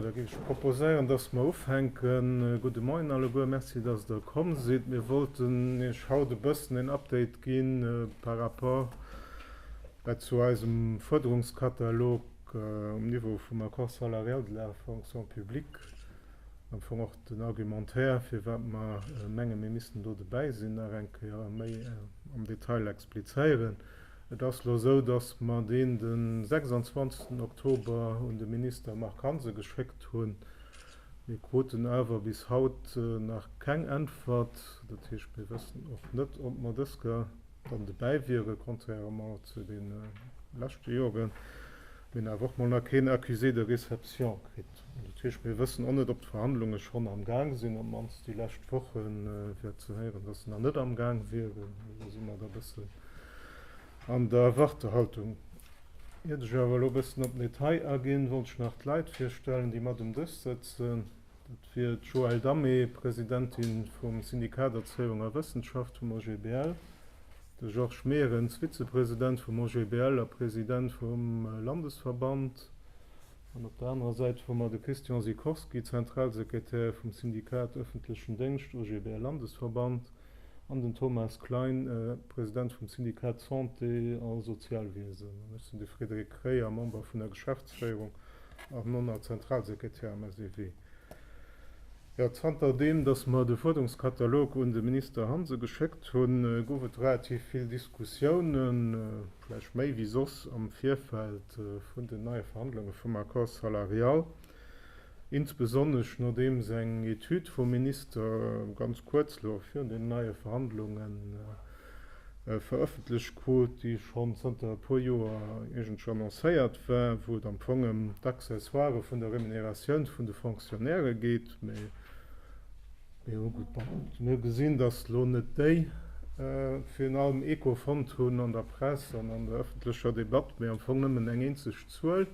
Da géif ech proposéieren, dass mer ufänken. Gudde Moien alleguer. Merci, dass Der komm sidd. Mir wollten Iech haut e bëssen en Update gi par rapport zu eisem Fuerderungskatalog, Um Niveau vum Accord salarial de la fonction publique, am Fong och den Argumentaire, firwat mer menge mir missten do dobäi sinn, nach eng Kéier méi am Detail explizéieren. Et ass elo esou, datt mer deen de 26 Oktober un de Minister Marc Hansen geschéckt hunn. Mir kruten awer bis haut nach keng Äntwert. Dat heescht, mir wëssen och net, ob mer dës. dann dobäi wieren, contrairement zu de leschte Joren, mir awer och mol nach keen Accusé de réception kritt. Dat heescht, mir wëssen och net, ob d'Verhandlunge schonn am Gaang sinn. Op d'mannst déi lescht Woche war ze héieren, dass se nach net am Gaang wieren. Elo si mer da e bëssen an der Wartehaltung. Iert ech awer elo e bëssen op den Detail aginn, wollt ech nach d'Leit virstellen, déi mat um Dësch sëtzen. Dat wier d'Joëlle Damé, Presidentin vum Syndikat Erzéiung a Wëssenschaft vum OGBL, de Georges Meerens, Vizepresident vum OGBL a President vum Landesverband, an op der anerer Säit hu mer de Christian Sikorski, Zentralsekretär vum Syndikat Öffentlechen Dengscht, OGBL-Landesverband. An den Thomas Klein, President vum Syndikat Santé a Sozialwiesen. An ech sinn de Frédéric Kreyer, Member vun der Geschäftsféierung a nonner Zentralsekretär am SEW. Jo, zanter deem, datt mer de Fuerderungskatalog un de Minister Hansen geschéckt hunn, gouf et relativ vill Diskussiounen, vläicht méi wéi soss, am Virfeld vun den neie Verhandlunge vum Accord salarial. Insbesonnesch nodeems eng Etüd vum Minister ganz kuerz lo virun den neie Verhandlunge verëffentlecht krut, déi schonn zanter e puer Joer iergendwou annoncéiert war, wou et am Fong ëm d'Accessoire vun der Remuneratioun vun de Fonctionnairë geet. Mee hu gesinn, datt lo net déi virun allem Echo fonnt hunn an der Press an an der ëffentlecher Debatt, mee am Fong nëmmen eng eenzeg Zuel.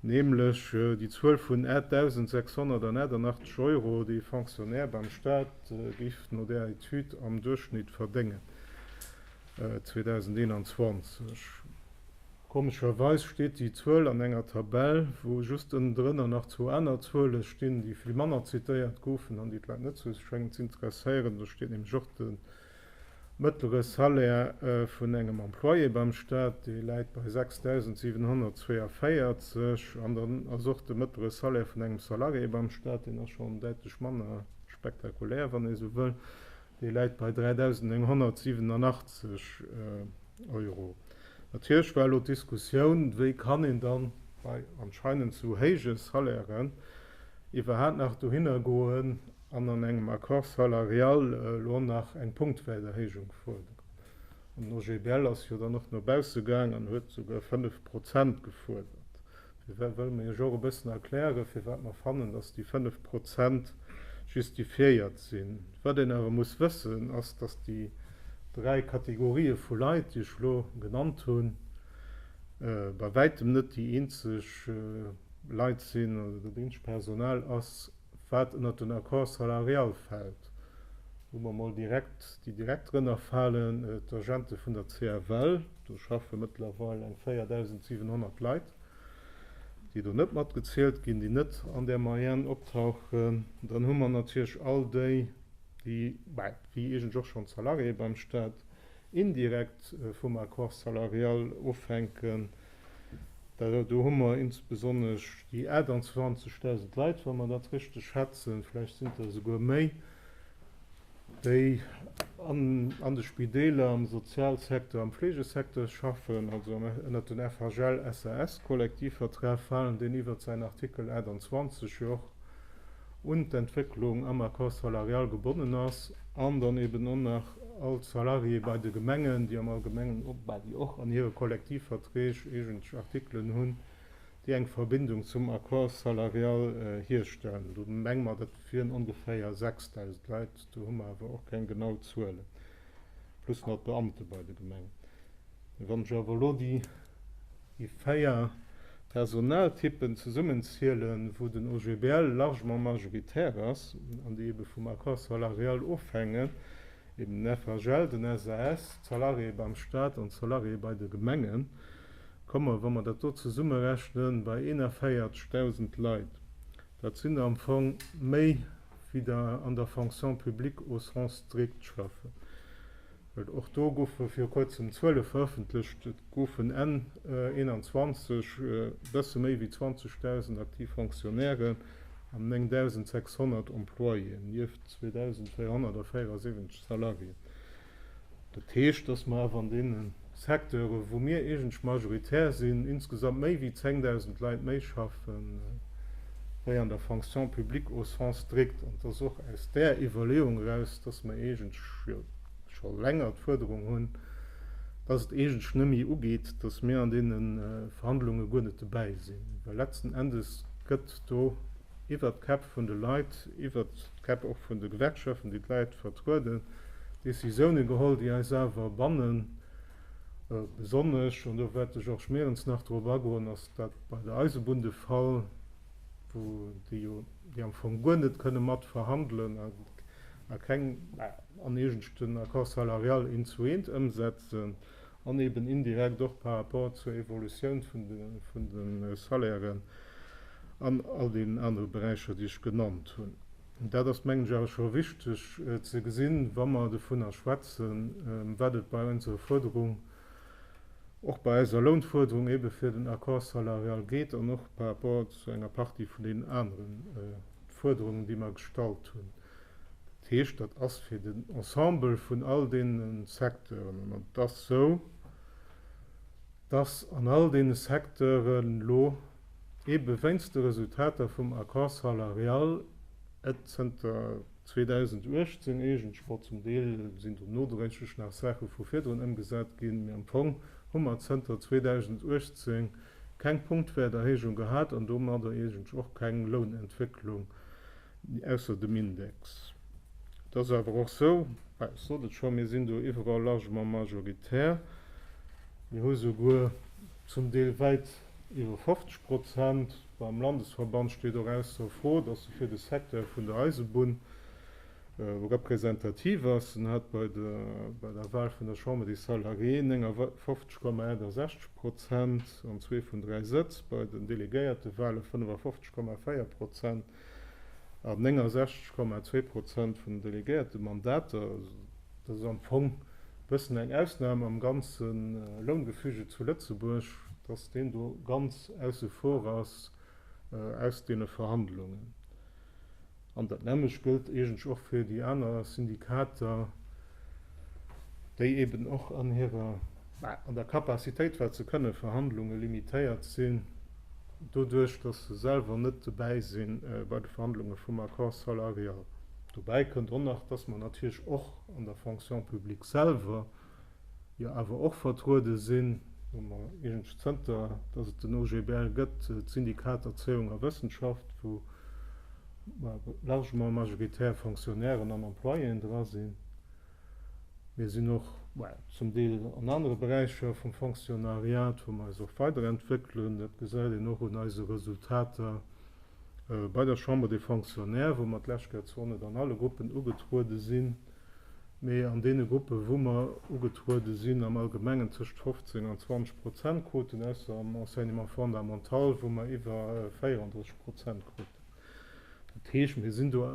nämlech déi Zuel vun 8.688 Euro, déi e Fonctionnaire beim Staat géif no där Etüd am Duerchschnitt verdéngen 2021. Komescherweis steet déi Zuel an enger Tabell, wou just ënnendrënner nach zwou aner Zuele stinn, déi vill manner zitéiert goufen an déi d'Leit net sou schéngen z'interesséieren. Do steet nämlech och de Mëttlere Salaire vun engem Employé beim Staat, dee läit bei 6.742, an dann ass och de mëttlere Salaire vun engem Salarié beim Staat, deen ass schonn däitlech manner spektakulär, wann ee sou wëll, dee läit bei 3.987 Euro. Natierlech war elo d'Diskussioun, wéi kann een dann bei anscheinend sou héije Salairen iwwerhaapt nach dohinner goen, an an engem Accord salarial elo och nach eng punktuell Erhéijung fuerderen. An den OGBL ass jo dann och no bausse gaang an huet souguer 5 Prozent gefuerdert. Fir wat wëlle mir lech och e bëssen erklären, fir wat mer fannen, dass déi 5 Prozent justifiéiert sinn. Wat een awer muss wëssen, ass, dass déi dräi Kategorië vu Leit, déi ech elo genannt hunn, bei wäitem net déi eenzeg Leit sinn oder dat eenzeg Personal ass, wat ënnert den Accord salarial fält, wou mer emol direkt, déi direkt drënner falen, d'Agente vun der CFL, do schaffe mëttlerweil eng 4.700 Leit, déi do net mat gezielt ginn, déi net an där Moyenne optauchen. Dann hu mer natierlech all déi, déi, bäi, wéi eigentlech och schonn d'Salariéeë beim Stat, indirekt vum Accord salarial ofhänken. Well do hu mer insbesonnesch déi 28.000 Leit, wa mer dat richteg schätzen, vläicht sinn et der esouguer méi, déi an de Spideeler, am Sozialsektor, am Fleegesecteur schaffen, also ënnert den FHL, SAS-Kollektivvertrag falen, deen iwwert säin Artikel 28 jo och un d'Entwécklung am Accord salarial gebonnen ass, an dann eben och nach all d'Salariéë bei de Gemengen, déi am Allgemengen, bah, déi och an hire Kollektivverträg eegentlech Artikelen hunn, déi eng Verbindung zum Accord salarial hierstellen. Do menge mer, dat wieren ongeféier 6.000 Leit, do hu mer awer och keng genau Zuelen, plus nach d'Beamte bei de Gemengen. Wann ech awer elo déi déi véier Personaltyppen zesummenzielen, wou den OGBL largement majoritär ass an déi ebe vum Accord salarial ofhängen, eben den FHL, den SAS, d'Salariéë beim Stat an d'Salariéë bei de Gemengen, komme mer, wa mer dat do zesummerechnen, bei 41.000 Leit. Dat sinn der am Fong méi, wéi der an der Fonction publique au sens strict schaffen. Och do goufe viru kuerzem d'Zuele verëffentlecht. Et goufen Enn 21 e bësse méi wéi 20.000 aktiv Fonctionnairen an 9.600 Employéen, nieft 2.374 Salariéen. Dat heescht, datt mer awer an deenen. Secteure wou mir iergendsch majoritär sinn, insgesamt méi wéi 10.000 Leit méi schaffe wéi an der Fonction publique au sens strict. An et ass och aus där Iwwerleeung eraus, datt mer iergendsch, jo scho länger d'Fuerderung hunn, datt et iergendsch net méi ugeet, datt mir an deene Verhandlunge guer net dobäi sinn, well letzten Endes gëtt do iwwert d'Käpp vun de Leit, iwwert d'Käpp och vun de Gewerkschaften, déi d'Leit vertrueden, Décisiounen geholl, déi eis awer bannen, besonnesch, an do wäert de Georges Meerens nach drop agoen, ass dat bei der Eisebunn de Fall, wou déi jo, déi am Fong guer net kënne mat verhandelen a keng an eegenschten Accord salarial eent zu eent ëmsetzen, an eben indirekt och par rapport zur Evolutioun vun de Salairen an all deenen anere Beräicher, déi ech genannt hunn. Dat ass, mengen ech, awer scho wichteg ze gesinn, wa mer dovunner schwätzen, wat et bei onserer Fuerderung, och bei eiser Lounfuerderung ebe fir den Accord salarial geet an och par rapport zu enger Partie vun deenen anere Fuerderungen, déi mer gestallt hunn. Dat heescht, dat ass fir den Ensemble vun all deene Secteuren. An et ass esou, dass an all deene Secteuren elo, eebe weinst de Resultater vum Accord salarial, et zënter 2018 eigentlech, bon, zum Deel sinn do nodréiglech nach Saache vu virdrun ëmgesat ginn, mee am Fong hu mer zënter 2018 keng Punktwäerterhéijung gehat an domadder eigentlech och keng Lounentwécklung Ausser dem Index. Et ass awer och esou, ech sot et scho, mir sinn do iwwerall largement majoritär. Mir hu souguer zum Deel wäit iwwer 50 Prozent. Beim Landesverband steet och ausser Fro, dass e fir de Secteur vun der Eisebunn representativ ass. En hat bei der Wahl vun der Chambre des Salariés 59,68 Prozent an zwee vun dräi Sëtz, bei den Delegéiertewahle 55,4 Prozent an 69,2 Prozent vun den delegéierte Mandater, dat ass am Fong e bëssen eng Ausnam am ganze Loungefüge zu Lëtzebuerg, datt deen do ganz ausse vor ass aus deene Verhandlungen. An dat nämmlecht gëllt eegendlech och fir déi aner Syndikater. déi eben och an hirer, bah, an der Capacitéit, wat se kënne verhandlunge limitéiert sinn, doduerch datt se selwer net dobäi si bei de Verhandlunge vum Accord salarial. Dobäi kënnt och nach, datt mer natierlech och an der Fonction publique selwer jo awer och vertruede sinn, wou mer eigentlech zënter datt et den OGBL gëtt, d'Syndikat Erzéiung a Wëssenschaft, wou, largement majoritär Fonctionnairen an Employéen dra sinn. Mir sinn och zum Deel an anere Beräicher vum Fonctionnariat, wou mer eis och weiderentwéckelen. Dat gesäit een och un eise Resultater bei der Chambre des Fonctionnaires, wou mer d'lescht Kéier zwar net an alle Gruppen ugetruede sinn, mee an deene Gruppen, wou mer ugetruede sinn, am Allgemengen tëscht 15 an 20 Prozent kruten, ausser am Enseignement fondamental, wou mer iwwer 34 Prozent kruten. Dat heescht, mir sinn do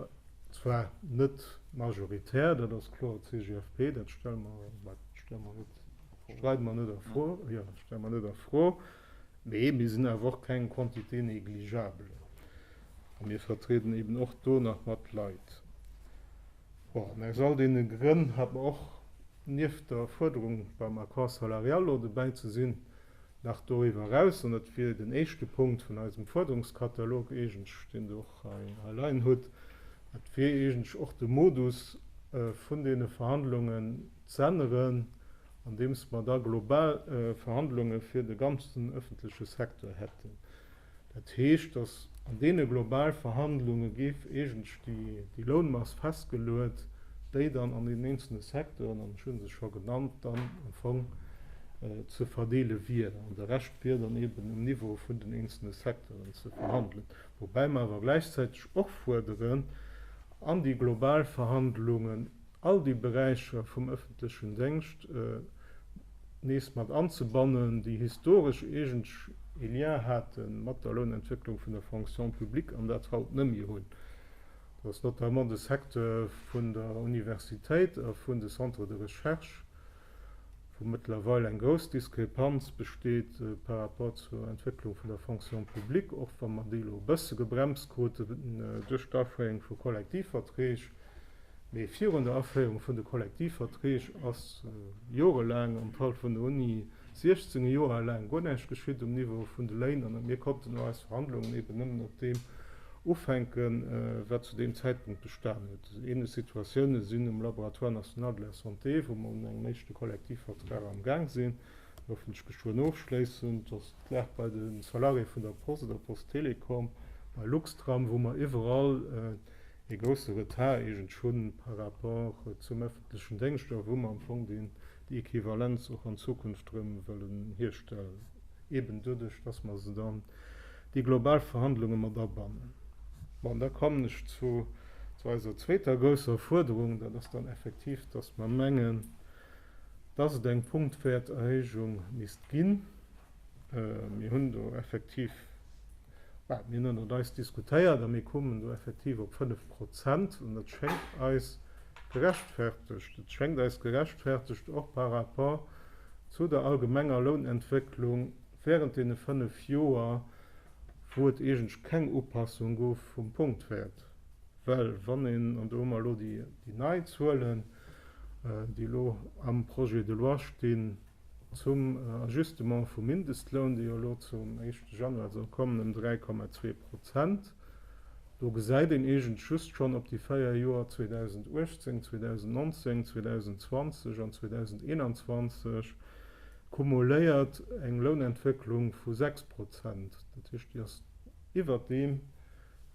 zwar net majoritär, dat ass kloer, d'CGFP, dat stelle mer, wat stelle mer net, streide mer net a Fro, jo, stelle mer net a Fro, mee mir sinn awer och keng Quantité négligeable a mir vertrieden eeben och do nach mat Leit. Bon, an aus all deene Grënn hat mer och, nieft der Fuerderung beim Accord salarial elo dobäi ze sinn, Nach doriwwer eraus, an dat wier den éischte Punkt vun eisem Fuerderungskatalog eigentlech, deen Der och hei leien hutt, dat wier eigentlech och de Modus vun deene Verhandlungen z'änneren, andeems mer da global Verhandlunge fir de ganzen ëffentleche Secteur hätten. Dat heescht, datt an deene global Verhandlunge géif eigentlech déi Lounmass festgeluet, déi dann an den eenzele Secteuren, an ech hu se scho genannt, dann am Fong ze verdeele wier. An de Rescht wier dann eeben um Niveau vun den eenzele Secteuren ze verhandelen. Woubäi mer awer gläichzäiteg och fuerderen, an déi global Verhandlungen, all déi Beräicher vum ëffentlechen Déngscht nees mat anzebannen, déi historesch iergendw ee Lien hate mat der Lounentwécklung vun der Fonction publique an dat haut nëmme hunn. Dat ass notamment de Secteur vun der Universitéit a vun de Centres de recherche. wou mëttlerweil eng grouss Diskrepanz besteet par rapport zur Entwécklung vun der Fonction publique, och wa mer déi elo e bësse gebremst kruten duerch d'Aféierung vu Kollektivverträg. Mee virun der Aféierung vun de Kollektivverträg ass jorelaang, an d'Halt vun der Uni 16 Joer laang, guer näischt geschitt um Niveau vun de Léin. An mir konnten eis Verhandlungen eeben nëmmen op deem Ufänken, wat zu deem Zäitpunkt bestan huet. Ähnlech Situatiounen sinn um Laboratoire national de la santé, wou mer un engem éischte Kollektivvertrag am Gaang sinn, hoffentlech geschwënn ofschléissend, dass d'Lag bei de Salariéë vun der Post, der Post Telecom, bei Luxtram, wou mer iwwerall ee grousse Retard eegentlech hunn par rapport zum öffentlechen Déngscht a wou mer am Fong dee déi Equivalenz och an Zukunft erëm wëllen hierstellen, eben doduerch, dass mer se dann déi global Verhandlunge mat abannen. Bon, da kommen ech zu eiser zweeter grousser Fuerderung, dat ass dann effektiv, dass mer mengen, dass et eng Punktwäerterhéijung misst ginn. Mir hunn do effektiv, well mir hunn ënnert eis diskutéiert a mir koumen do effektiv op fënnef Prozent, an dat schéngt eis gerechtfertegt. Et schéngt eis gerechtfertegt och par rapport zu der allgemenger Lounentwécklung während deene fënnef Joer, wou et eigentlech keng Upassung gouf vum Punktwäert. Well wann een, an do hu mer elo déi nei Zuelen, déi elo am Projet de loi stinn, Zum Ajustement vum Mindestloun, dee jo elo zum éischte Januar soll kommen, ëm 3,2 Prozent. Do gesäit een eegentlech just schonn op déi véier Joer 2018, 2019, 2020 an 2021 kumuléiert eng Lounentwécklung vu 6 Prozent. Dat heescht, déi ass iwwert deem,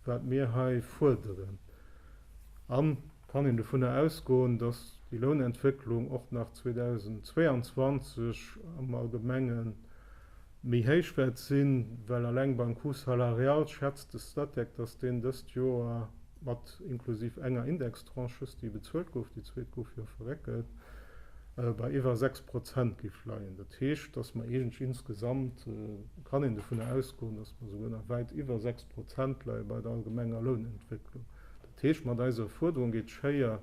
wat mir hei fuerderen. An Kann een dovunner ausgoen, dass déi Lounentwécklung och nach 2022 am Allgemenge méi héich wäert sinn? Well alleng beim Coût salarial schätzt de Statec, dass deen dëst Joer mat, inklusiv enger Indextranche just, déi bezuelt gouf, déi zweet gouf jo verréckelt, bei iwwer 6 Prozent géif leien. Dat heescht, dass mer eegentlech insgesamt, kann een dovunner ausgoen, dass mer souguer nach wäit iwwer 6 Prozent leie bei der allgemenger Lounentwécklung. Dat heescht, mat eiser Fuerderung geet d'Schéier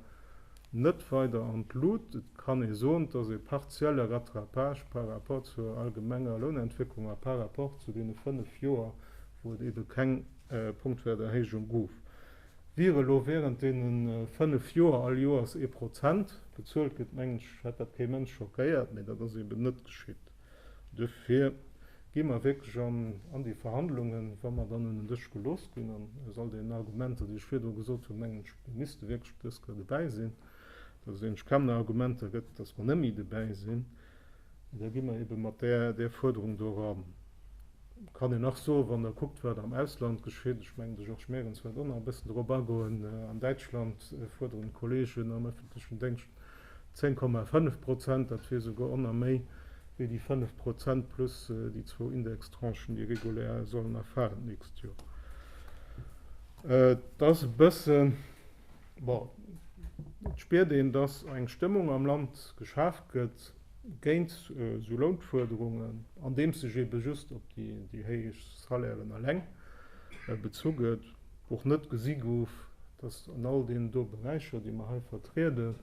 net weider an d'Lut. Et kann ee soen, dass e partielle Rattrapage par rapport zur allgemenger Lounentwécklung a par rapport zu deene fënnf Joer, wou et ebe keng Punktwäerterhéijung gouf, wier elo während deene fënnf Joer all Joers ee Prozent bezuelt gëtt. Mengen ech, hätt dat kee Mënsch schockéiert, mee dat ass eben net geschitt. Duerfir gi mer wierklech an an déi Verhandlungen, wa mer dann un den Dësch gelooss ginn, an aus all deenen Argumenter, déi ech virdru gesot hunn, mengen ech, mir misste wierklech op dës Kéier dobäi sinn, dass et eigentlech kaum nach Argumenter gëtt, dass mer net méi dobäi sinn. Da gi mer eebe mat där Fuerderung do eran. Et kann een nach soen, wann Der kuckt, wat am Ausland geschitt, ech mengen, de Georges Merens wäert och nach e bëssen dorop agoen, an Däitschland fuerderen d'Kollegen am öffentlechen Déngscht, 10,5 Prozent, dat wier esouguer onner méi wéi déi 5 Prozent plus déi zwou Indextranchen, déi regulär sollen erfalen d'nächst Joer. Et ass e bëssen, bon, et spiert een, dass eng Stëmmung am Land geschaaft gëtt géint esou Lounfuerderungen, andeems sech eebe just op déi héich Salairen eleng bezu gëtt. och net gesi gouf, dass an all deenen do Beräicher, déi mer hei vertrieden,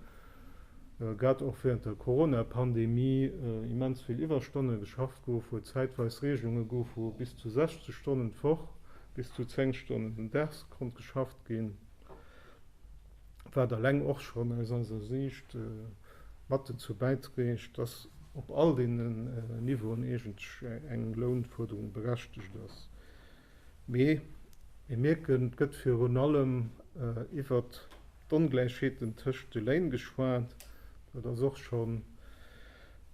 grad och während der Coronapandemie, immens vill Iwwerstonne geschafft gouf, wou et zäitweis Regelunge gouf, wou bis zu 60 Stonnen d'Woch, bis zu 10 Stonnen den Dags konnt geschafft ginn, wat alleng och schonn aus eiser Siicht mat dozou bäidrégt, dass op all deenen Niveauen eegentlech eng Lounfuerderung berechtegt ass. Mee mir mierken, et gëtt virun allem iwwert d'Ongläichheeten tëscht de Léin geschwat. Dat ass och scho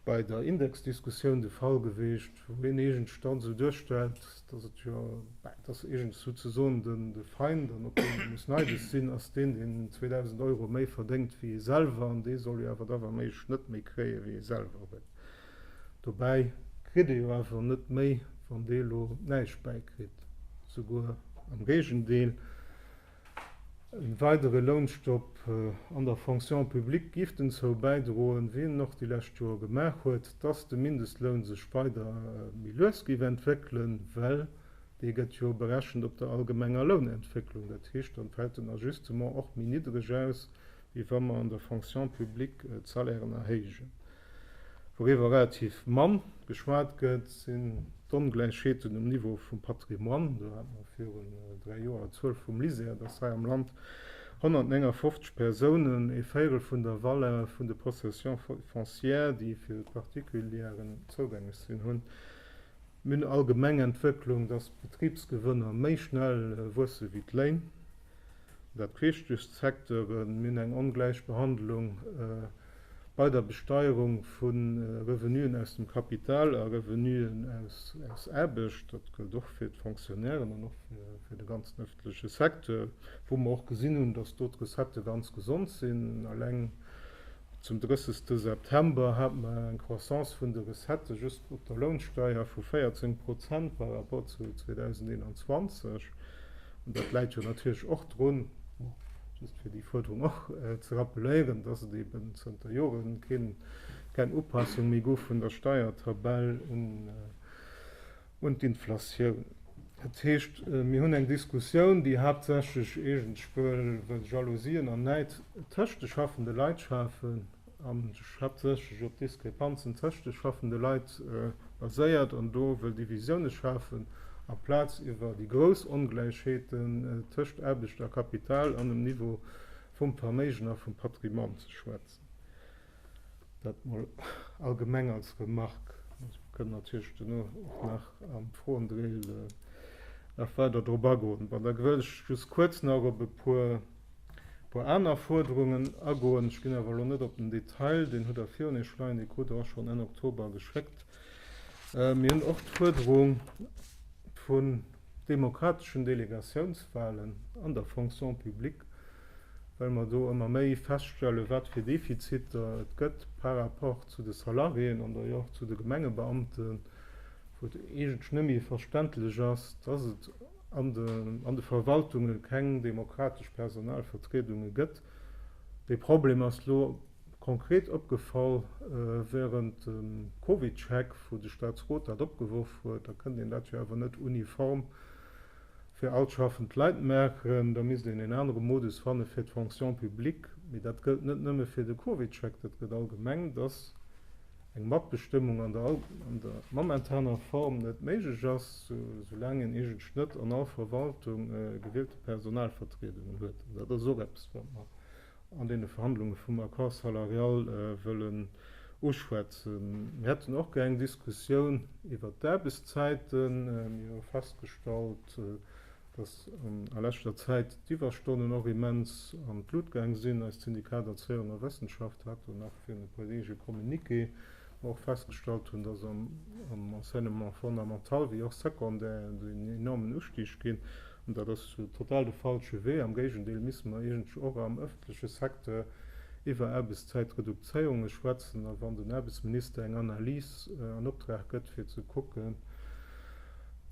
bei der Indexdiskussioun de Fall geweest, wou een eegentlech dann esou duerstellt, datt et jo, bah, datt eegentlech souzesoen de Feind, an op deen ee muss neidesch sinn, ass deen, deen 2.000 Euro méi verdéngt wéi ee selwer, an dee soll jo awer da wa méiglech net méi kréie wéi ee selwer huet. Dobäi kritt ee jo awer net méi, wann dee lo näischt bäikritt, souguer am Géigendeel. E weidere Lounstopp an der Fonction publique géif denzou bäidroen, wéi en och déi lescht Joer gemaach huet, dass de Mindestloun sech weider méi lues géif entwéckelen, well dee gëtt jo berechent op der allgemenger Lounentwécklung. Dat heescht, dann fält den Ajustement och méi niddreg aus, wéi wa mer an der Fonction publique d'Salairen erhéijen. Wouriwwer relativ mann geschwat gëtt, sinn d'Ongläichheeten um Niveau vum Patrimoine. Do hat mer virun dräi Joer d'Zuel vum LISER, dass hei am Land 159 Persounen ee Véirel vun der Valeur vun de Possessions foncières, déi fir d'Particulieren zougänglech sinn, hunn. Mir hunn allgemeng Entwécklung, dass d'Betribsgewënner méi schnell wuesse wéi d'Léin. Dat heescht, duerch d'Secteure mir hunn eng ongläich Behandlung bei der Besteierung vu Revenuen aus dem Kapital a Revenuen aus Aarbecht. Dat gëllt och fir d'Fonctionnairen an och fir de ganzen ëffentleche Secteur, wou mer och gesinn hunn, datt do d'Recettë ganz gesond sinn. Alleng. Zum 30 de September hat mer eng Croissance vun de Recettë just op der Lounsteier vu 14 Prozent par rapport zu 2021. An dat läit jo natierlech och drun, just fir déi Fuerderung och ze rappeléieren, dass et eben zënter Jore keng Upassung méi gouf vun der Steiertabell un un d'Inflatioun. Dat heescht, mir hunn eng Diskussioun, déi haaptsächlech eegentuell wëll Jalousien an Näid tëscht de schaffende Leit schafen an sech haaptsächlech op Diskrepanzen tëscht de schaffende Leit baséiert an do wëll Divisioune schafen, amplaz iwwer déi grouss Ongläichheeten tëscht Aarbecht a Kapital an um Niveau vum Verméigen a vum Patrimoine ze schwätzen. Dat mol allgemeng als Remarque. Mir kënnen natierlech duerno och nach am Froendrill nach weider drop agoen. Bon, da wëll ech just kuerz nach op e puer aner Fuerderungen agoen. Ech ginn awer elo net op den Detail, deen hutt Der virun Iech leien, dee krut Der och schonn Enn Oktober geschéckt. Mir hunn och d'Fuerderung vun demokrateschen Delegatiounswahlen an der Fonction publique. well mer do ëmmer méi feststellen, wat fir Defiziter et gëtt par rapport zu de Salariéen an da jo och zu de Gemengebeamten, wou et eegentlech net méi verständlech ass, dass et an de Verwaltunge keng demokratesch Personalvertriedunge gëtt. Dee Problem ass elo konkret opgefall während dem Covid-Check, wou de Staatsrot dat opgeworf huet. Da kënnt een dat jo awer net uniform Fir all schaffend Leit maachen, da misst een een anere Modus fanne fir d'Fonction publique. Mee dat gëllt net nëmme fir de Covid-Chèque, dat gëtt allgemeng, dass eng Matbestëmmung an der momentaner Form net méiglech ass, soulaang een iergendsch net an all Verwaltung gewielte Personalvertriedungen huet. An dat ass och eppes, wat mer an deene Verhandlunge vum Accord salarial wëllen uschwätzen. Mir hätten och gär eng Diskussioun iwwert d'Aarbechtszäiten. Mir hu festgestallt, datt a leschter Zäit d'Iwwerstonnen och immens an d'Lut gaang sinn. Eist Syndikat Erzéiung a Wëssenschaft hat do nach fir e puer Deeg e Communiqué mer och festgestallt hunn, dass am Enseignement fondamental wéi och secondaire en enormen Ustig ginn. An dat ass total de falsche Wee. Am Géigendeel misste mer eegentlech och am ëffentleche Secteur iwwer Aarbechtszäitredukzéierunge schwätzen. A wann den Aarbechtsminister eng Analys an Optrag gëtt, fir ze kucken,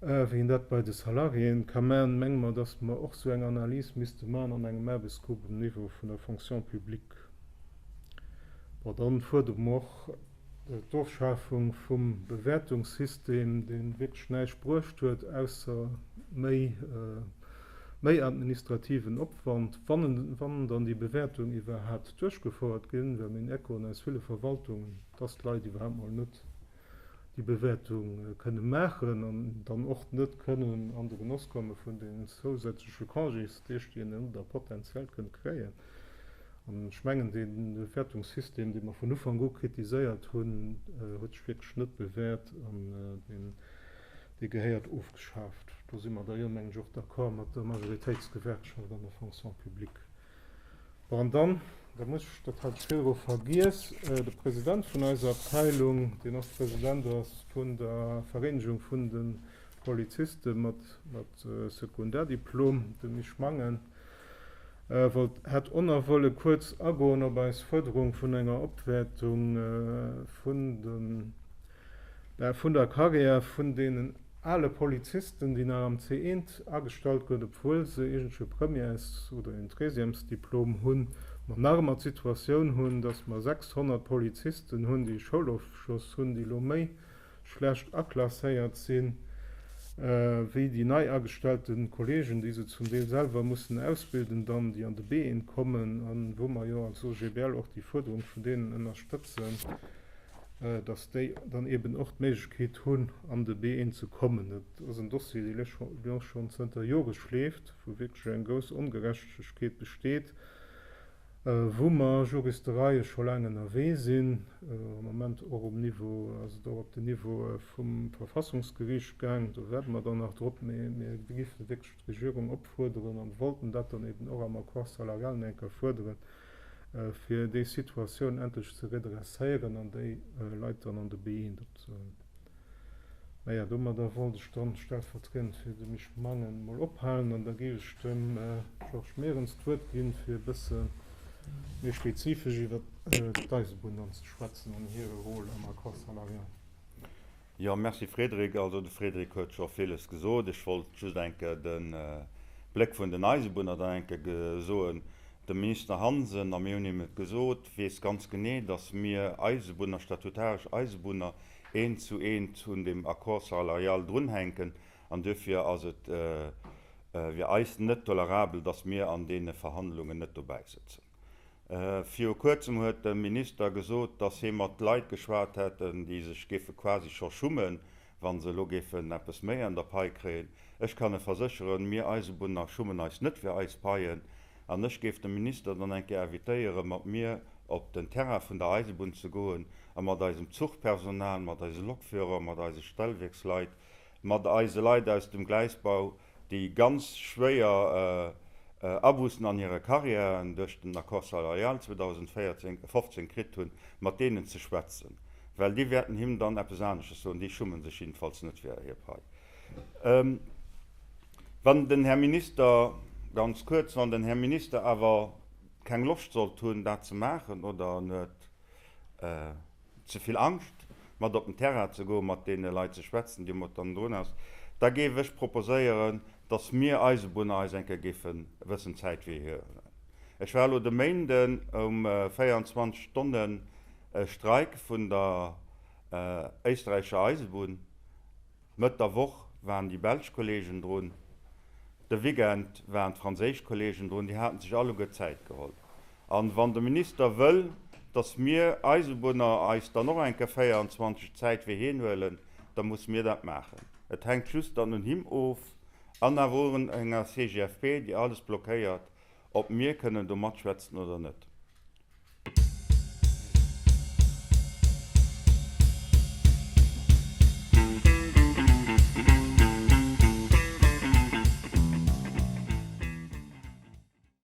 wéi een dat bei de Salariéen ka maachen, menge mer, dass mer och esou eng Analys misste maachen an engem Aarbechtsgrupp um Niveau vun der Fonction publique. Bon, dann fuerdere mer och d'Ofschafung vum Bewäertungssystem, deen wierklech näischt bruecht huet, ausser méi, méi administrativen Opwand, wann en, wann dann déi Bewäertung iwwerhaapt duerchgefouert ginn. Well meng Echoen aus ville Verwaltungen, dass d'Leit iwwerhaapt mol net déi Bewäertung kënne maachen an dann och net kënnen an de Genoss komme vun deenen zousätzleche Congésdeeg, déi een elo da potenziell kënnt kréien. An ech mengen, dee Wäertungssystem, dee mer vun Ufank u kritiséiert hunn, huet sech wierklech net bewäert an dee gehéiert ofgeschaaft. Do si mer da jo, mengen ech, och d'accord mat der Majoritéitsgewerkschaft an der Fonction publique. Bon, an dann, da muss ech, dat hat ech virdru vergiess, de President vun eiser Abteilung, deen ass President vun der Vereenegung vun de Poliziste mat Sekundardiplom, dem Misch Mangen, wollt hat onerwolle kuerz agoen op eis Fuerderung vun enger Opwäertung vun den, bäh, vun der Karriär vun deenen ale Polizisten, déi nach am C1 agestallt gëtt, obwuel se eegentlech e Premières oder en Treizièmesdiplom hunn, mer nach ëmmer d'Situatioun hunn, dass mer 600 Polizisten hunn, déi e Schoulofschloss hunn, déi elo méi schlecht aklasséiert sinn, wéi déi nei agestellte Kolleegen, déi se zum Deel selwer mussen ausbilden dann, déi an de BEen kommen a wou mer jo als OGBL och déi Fuerderung vun deenen ënnerstëtzen, dass déi dann eeben och d'Méiglechkeet hunn, an de BEen ze kommen. Dat ass en Dossier, dee lech jo schonn zënter Jore schleeft, wou wierklech eng grouss Ongerechtegkeet besteet. wou mer Juristereie scho laang ënnerwee sinn, am Moment och um Niveau, ass et och op den Niveau vum Verfassungsgericht gaang, do wäerte mer dann nach drop, mä mir géife wierklech d'Regierung opfuerderen an wollten dat dann eben och am Accord salarial nach eng Kéier fuerderen, fir déi Situatioun endlech ze redresséieren an déi Leit dann an de Being opzehuelen. Naja, domadder wollt ech dann stellvertriend fir de Mich Mangen mol ophalen an da géif ech dem Georges Mehrens d'Wuert ginn, fir e bësse méi spezifesch iwwer d'Eisebunn dann ze schwätzen an hire Rôle am Accord salarial. Jo, merci Frédéric. Also de Frédéric huet scho villes gesot. Ech wollt just eng Kéier de Bléck vun den Eisebunner dann eng Kéier gesoen. De Minister Hansen, a mir hunn him et gesot, weess ganz genee, datt mir Eisebunner, statutaresch Eisebunner, eent zu eent un dem Accord salarial drunhänken an duerfir ass et fir eis net tolerabel, dass mir an deene Verhandlungen net dobäi sëtzen. Viru kuerzem huet de Minister gesot, dass hie mat Leit geschwat hätten, déi sech géife quasi scho schummen, wa se elo géifen eppes méi an der Pai kréien. Ech kann e versécheren, mir Eisebunner schummen eis net fir eis Paien. An ech géif de Minister dann eng Kéier invitéieren, mat mir op den Terrain vun der Eisebunn ze goen a mat eisem Zuchpersonal, mat eise Lokführer, mat eise Stellwierksleit, mat eise Leit aus dem Gleisbau, déi ganz schwéier Abus'en an hire Carrièren duerch den Accord salarial 2015 kritt hunn, mat deenen ze schwätzen. Well déi wäerten him dann eppes anesches soen. Déi schummen sech jiddefalls net fir hir Pai. Wann den Här Minister, ganz kuerz, wann den Här Minister awer keng Loscht sollt hunn, dat ze maachen oder en huet ze vill Angscht, mat op den Terrain ze goen, mat deene Leit ze schwätzen, déi mat an drun ass, da géif ech proposéieren, datt mir Eisebunner eis eng Kéier géife e bëssen Zäit fir hie huelen. Ech war elo de Méinden um 24 Stonnen Streik vun der éisträichescher Eisebunn. Mëtt der Woch waren déi belsch Kolleegen drun, de Weekend waren d'franséisch Kolleegen drun. Déi hate sech alleguer Zäit geholl. A wann de Minister wëll, datt mir Eisebunner eis dann och eng Kéier 24 Zäit fir hien huelen, da musse mir dat maachen. Et hänkt just dann un him of an awer un enger CGFP, déi alles blockéiert, Ob mir kënnen do matschwätzen oder net.